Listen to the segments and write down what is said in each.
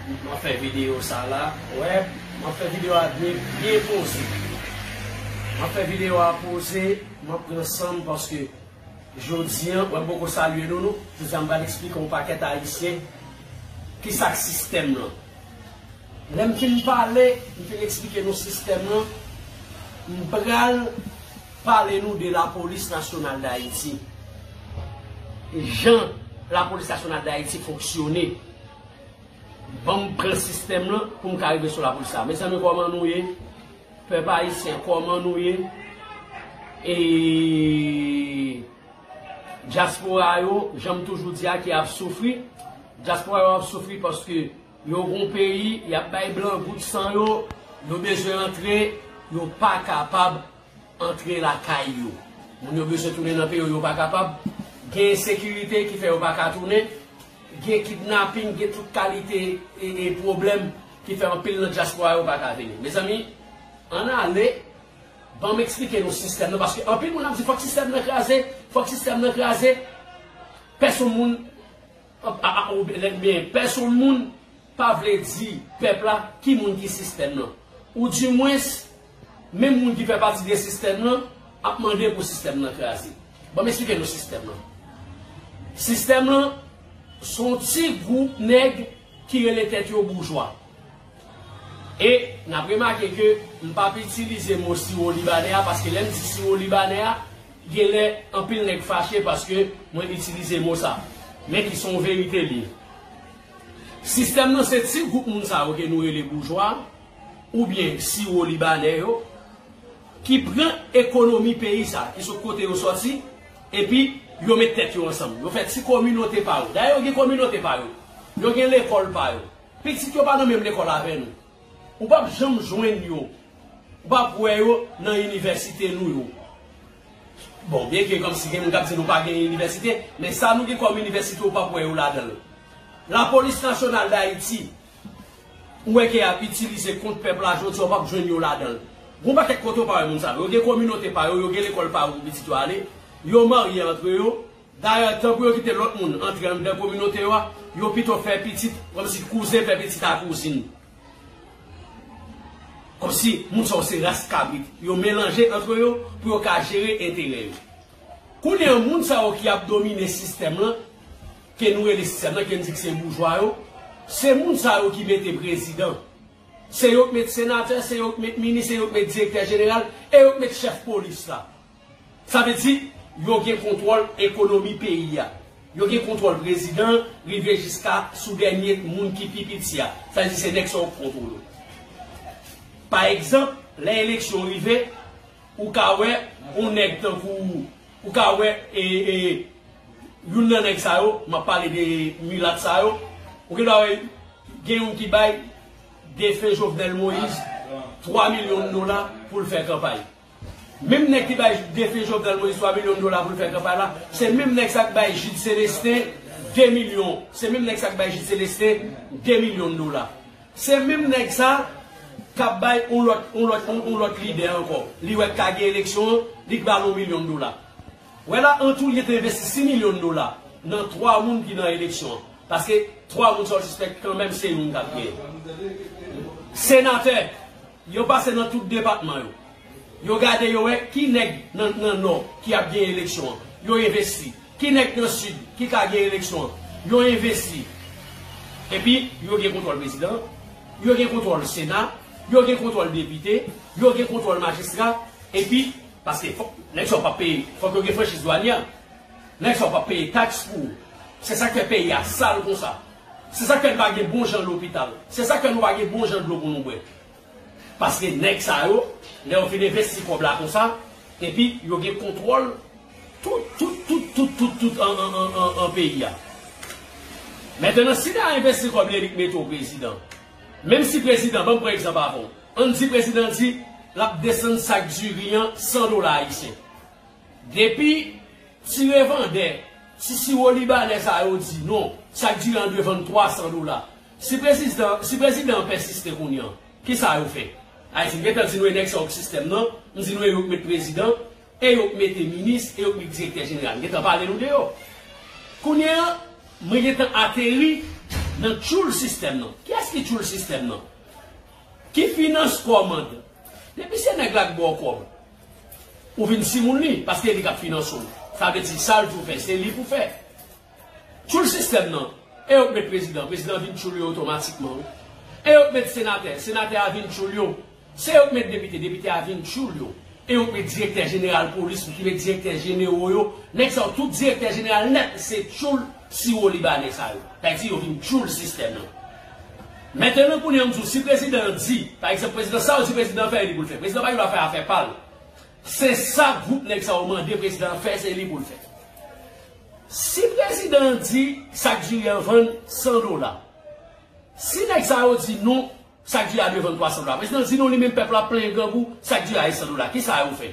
Mwen fè video sa la. Wè. Mwen fè video a byen byen poze. Mwen fè video a poze. Mwen pran san m paske jodi an. Mwen poko salye nou nou. Jodi an m pral eksplike yon pakèt ayisyen. Kisa k sistèm lan. Lè m fin pale. M fin eksplike nou sistèm lan. M pral. Pale nou de la polis nasyonal dayiti. E jan la polis nasyonal dayiti fonksyone. Banm pran sistèm lan poum ka rive sou la polis sa. Mezanmi kòman nou ye? Pèp ayisyen kòman nou ye? E dyaspora yo, janm toujou di a ki ap soufri. Dyaspora yo ap soufri paske yo gon peyi, yap bay blan gout san yo, yo bezwen antre, yo pa kapab. antre lakay yo. Moun yo bezwen tounen nan peyo yo pa kapab, gen ensekirite ki fè yo pa ka tounen, gen kidnaping, gen tout kalite e pwoblèm ki fè anpil nan dyaspora yo pa ka vini. Mezanmi, ann ale, ban m eksplike nou sistèm nan, paske anpil moun ap di fòk sistèm nan kraze, fòk sistèm nan kraze, pèsonn moun. Anpa ou bèlè byen pèsonn moun pa vle di pèp la ki moun ki sistèm lan. Ou di mwens menm moun ki fè pati de sistèm lan ap mande pou sistèm lan kraze. Banm esplike nou sistèm lan. Sistèm lan son ti gwoup nèg ki rele tèt yo boujwa. E nap remake ke m pap itilize mo siwolibanè a paske lèm di siwolibanè a Genlè anpil nèg fache paske mwen itilize mo sa. Men ki son verite li ye. Sistèm nan se ti gwoup moun sa yo ke nou rele boujwa oubyen siwo libanè yo ki pran ekonomi peyi sa, ki sot kote yo sòti epi yo met tèt yo ansanm. Yo fè ti kominote pa yo. Dayè yo gen kominote pa yo. Yo gen lekòl pa yo. Pitit yo pa nan menm lekòl avè nou. Ou pap janm jwenn yo. Ou pap wè yo nan inivèsite nou yo. Bon, byen ke kòmsi gen moun k ap di nou pa gen inivèsite, men sa nou gen kòm inivèsite ou pap wè yo ladan l. Lapolis Nasyonal Dayiti, ou wè ke y ap itilize kont pèp la jodi a, ou pap jwenn yo ladan l. Gon pakèt kote ou pa wè moun sa yo. Yo gen kominote pa yo, yo gen lekòl pa yo pou pitit yo ale, yo marye antre yo. Dayè, tan pou yo kite lòt moun antre anndan kominote yo a, yo pito fè pitit, kòmsi kouzen fè pitit a kouzin. Kòmsi moun sa yo se ras kabrit. Yo melanje antre yo pou yo ka jere enterè yo. Kounye an, moun sa yo ki ap domine sistèm lan, ke nou rele sistèm lan, ke n di ki se boujwa yo, se moun sa yo ki mete prezidan. Se yo ki met senatè, se yo ki met minis, se yo ki met direktè jeneral, e yo ki met chèf polis la. Sa vle di, yo gen kontwòl ekonomi peyi a. Yo gen kontwòl prezidan an rive jiska sou dènye moun ki pi piti a. Sa vle di se nèg sa yo ki kontwole w. Pa egzanp, lè eleksyon rive, ou ka wè yon nèg tankou, ou ka wè youn nan nèg sa yo, m ap pale de milat sa yo, ou gendwa wè gen youn ki bay defen Jovenel Moïse 3 milyon dola pou l fè kanpay. Menm nèg ki bay defen Jovenel Moïse 3 milyon dola pou l fè kanpay la, se menm nèg sa k bay Jude Celestin 2 milyon, se menm nèg sa k bay Jude Celestin 2 milyon dola. Se menm nèg sa k ap bay yon lòt, yon lòt, yon lòt lidè ankò, li wè k ka gen eleksyon an, li k ba l yon milyon dola. Wè la, an tou, li te envesti 6 milyon dola nan 3 moun ki nan eleksyon an. Paske 3 moun sa w sispèk kanmenm se yon k ap genyen. Senatè! Yo pase nan tout depatman yo. Yo gade yo wè ki nèg nan Nò ki ap gen eleksyon an. Yo envesti. Ki nèg nan Sid ki ka gen eleksyon an. Yo envesti. Epi, yo gen kontwòl prezidan an. Yo gen kontwòl sena. Yo gen kontwòl depite. Yo gen kontwòl majistra. Epi, paske fòk nèg sa yo pa ap peye. Fòk yo gen franchiz dwanyè. Nèg sa yo pa ap peye taks pou. Se sa k fè peyi a sal konsa. Se sak fè n pa gen bon jan lopital. Se sak fè nou pa gen bon jan dlo pou nou bwè. Paske nèg sa yo, lè yo fin envesti kòb la konsa, epi yo gen kontwòl tout, tout, tout, tout, tout, tout an peyi a. Mentenan, si ta envesti kòb li li k mete w prezidan. Menm si prezidan, ban m pran egzanp avè w. An n di prezidan di l ap desann sak diri an 100 dola ayisyen. Depi ti revandè, ti siwo libanè sa yo di non, chak diri an dwe vann 300 dola. Si prezisdan, si prezidan an pèsiste kounye an, kisa yo fè? Ayiti, m gentan di nou e nèg sa yo k sistèm nan, m di nou e yo k met prezidan, e yo k mete minis, e yo k met direktè jeneral. M gentan pale nou de yo. Kounye an, mwen gentan ateri nan tchoul sistèm nan. Kiyès ki tchoul sistèm nan? Ki finans kòmand? Depi se nèg la k ba w kòb. Ou vin timoun li paske li kap finanse w. Sa vle di sal di w fè se li pou fè. Tchoul sistèm nan, e yo k met prezidan, prezidan vin tchoul yo otomatikman wi. E yo k met senatè, senatè a vin tchoul yo. Se yo k met depite, depite a vin tchoul yo. E yo k met direktè jeneral polis, yo ki met direktè jenero yo. Nèg sa yo tout direktè jeneral nèt se tchoul. Siwo libanè sa yo. Sa vle di yo vin tchoul sistèm nan. Mentenan kounye a m di w si prezidan an di, pa egzanp prezidan sa w di prezidan an fè e li pou l fè. Prezidan pa gen dwa fè afè pa l. Se sa gwoup nèg sa yo mande prezidan an fè se li pou l fè. Si prezidan an di sak diri an vann 100 dola. Si nèg sa yo di non sak diri a dwe vann 300 dola. Prezidan an di non li menm pèp la ap plenyen grangou sak diri a e 100 dola. Kisa yo fè?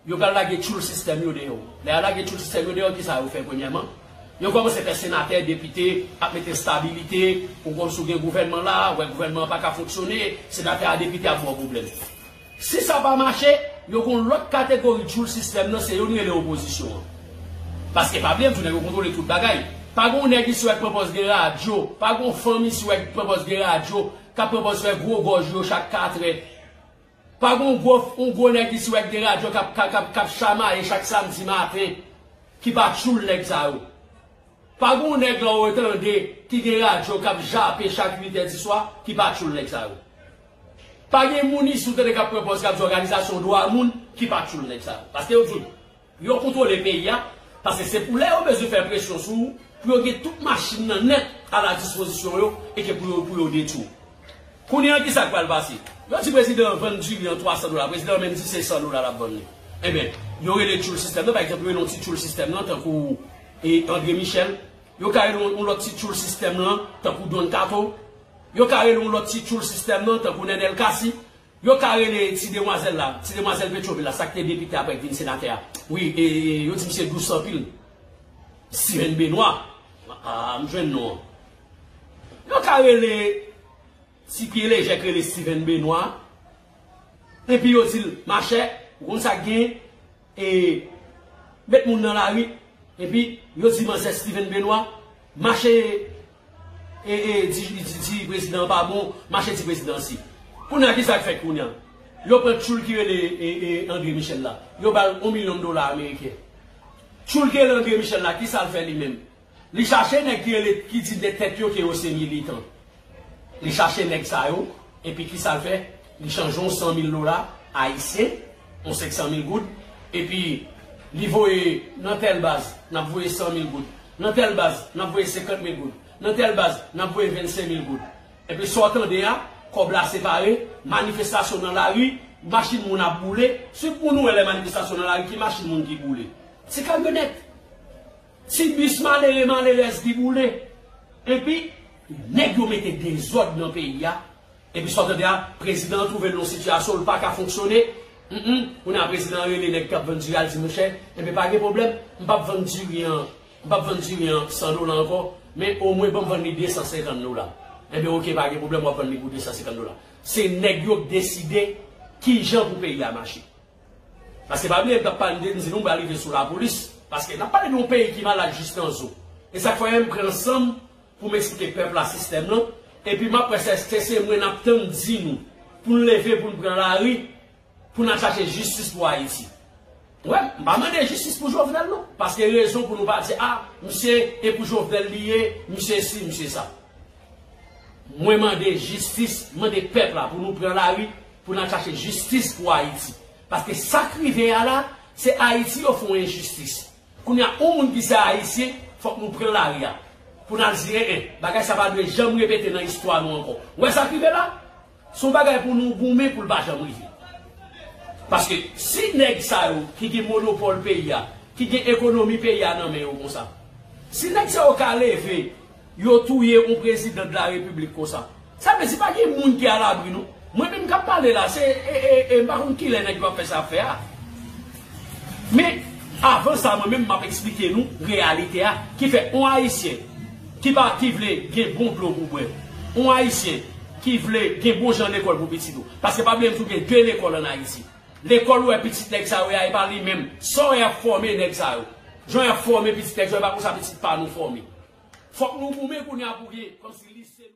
Yo pral lage tchoul sistèm yo deyò. Lè ya lage tchoul sistèm yo deyò, kisa yo fè premyèman? Yo kòmanse fè senatè, depite, ap mete stabilite, ou konn si w gen gouvènman la, wè gouvènman an pa ka fonksyone, senatè a depite ap ba w pwoblèm. Si sa pa mache, yo gen yon lòt kategori tchoul sistèm nan, se yo nou rele opozisyon an. Paske pa bliye m di w nèg yo kontwole tout bagay. Pa gen yon nèg isi wè k pran pòz gen radyo, pa gen yon fanm isi wè k pran pòz gen radyo, k ap pran pòz fè gwo gòj yo chak katrè. Pa gon gwo f yon gwo nèg isi wè k gen radyo k ap k ap k ap chamaye chak samdi maten ki pa tchoul nèg sa yo? Pa gon yon nèg la w tande ki gen radyo k ap jape chak uitè diswa ki pa tchoul nèg sa yo? Pa gen moun isi w tande k ap pran pòz k ap di òganizasyon dwa moun ki pa tchoul nèg sa yo? Paske yo di w. Yo kontwole peyi a, paske se pou lè yo bezwen fè presyon sou ou, pou yo gen tout machin nan nèt a la dispozisyon yo e ke pou yo pou yo detwi w. Kounye an ki sa k pral pase? Yo di prezidan an vann diri an 300 dola, prezidan an menm di se 100 dola l ap vann li. Enben, yo rele tchoul sistèm nan, pa egzanp yo rele yon ti tchoul sistèm nan tankou e Andre Michel, yo ka rele yon lòt ti tchoul sistèm lan tankou Don Kato, yo ka rele yon lòt ti tchoul sistèm nan tankou Nenel Cassy. Yo ka rele ti demwazèl la, ti demwazèl Petrovil la, sa k te depite aprè k vin senatè a. Wi, e yo di misye dous anpil. Sirèn Benwa. A, m jwenn non an. Yo ka rele ti pye lejè k rele Stivèn Benwa. Epi yo di l, machè, ou konn sa k gen, e met moun nan lari. Epi yo di manzè Stivèn Benwa, mache. E e di prezidan an pa bon mache di prezidan an si. Kounya ki sak fèt kounya. Yo pran tchoul ki rele e André Michel la. Yo bal on milyon dola ameriken. Tchoul ki rele André Michel la ki sal fè li menm. Li chache nèg ki rele ki di de tèt yo ke yo se militan. Li chache nèg sa yo epi ki sal fè li chanje on 100 mil dola ayisyen. yon 500 mil goud, epi li voye nan tèl baz, n ap voye 100 mil goud, nan tèl baz, n ap voye 50 mil goud, nan tèl baz, n ap voye 25 mil goud. Enpi sa w tande a, kòb la separe, manifestasyon nan lari, machin moun ap boule. Siw t moun wè lè manifestasyon nan lari ki machin moun ki boule? Se kamyonèt. Ti bus malere malerèz ki boule. Epi nèg yo mete dezòd nan peyi a. Epi sa w tande a, prezidan an twouve l nan yon sitiyasyon l pa ka fonksyone. Hum m, kounye a prezidan an rele nèg k ap vann diri a, l di, monchè, enben pa gen pwoblèm, m p ap vann diri an, m p ap vann diri an san dola ankò, men omwen ban m vann li desan senkann dola. Enben oke, pa gen pwoblèm, w ap vann li pou desan senkann dola. Se nèg yo k deside ki jan pou peyi a mache. Paske pa bliye m tap pale de m di nou m pral rive sou lapolis paske nap pale de yon peyi ki malad jis nan zo e sak fè m pran sanm pou m esplike pèp la sistèm lan epi map wè se eske se mwen nap tann di nou pou n leve pou n pran lari pou n al chache jistis pou ayiti wè m pa mande jistis pou jovenel non paske rezon pou nou pa di a misye e pou jovenel li ye misye si misye sa mwen mande jistis mande pèp la pou nou pran lari Pou nan chache jistis pou ayiti. Paske sak rive a la se ayiti yo fon enjistis. Kounya on moun ki se ayisyen fok nou pran lari a pou nal di en en. Bagay sa pa dwe janm repete nan istwa nou anko. Ou wè sak rive la? Son bagay pou nou goumen poul pa janm rive. Paske si neg sa yo ki gen monopol peyi a, ki gen ekonomi peyi a nan men yo konsa. Si neg sa yo ka leve Yo touye yon president la republic konsa. Sa vle di pa gen moun ki a l'abri non. Mwen menm kap pale la se e mpa konn kilè nèg yo ap fè sa ap fè a. Men avan sa mwen menm map esplike nou reyalite a ki fè yon ayisyen ki pa ki vle gen bon dlo pou bwè, yon ayisyen ki vle gen bon jan lekòl pou pitit ou. Paske pa bliye m di w gen 2 lekòl an ayiti. Lekòl ou wè pitit nèg sa yo ye a e pa li menm. Sa w wè y ap fòme nèg sa yo. Jan y ap fòme pitit nèg sa yo e pa konsa pitit pa nou fòme. Fòk nou goumen kounye a pou gen kòmsi lise nou.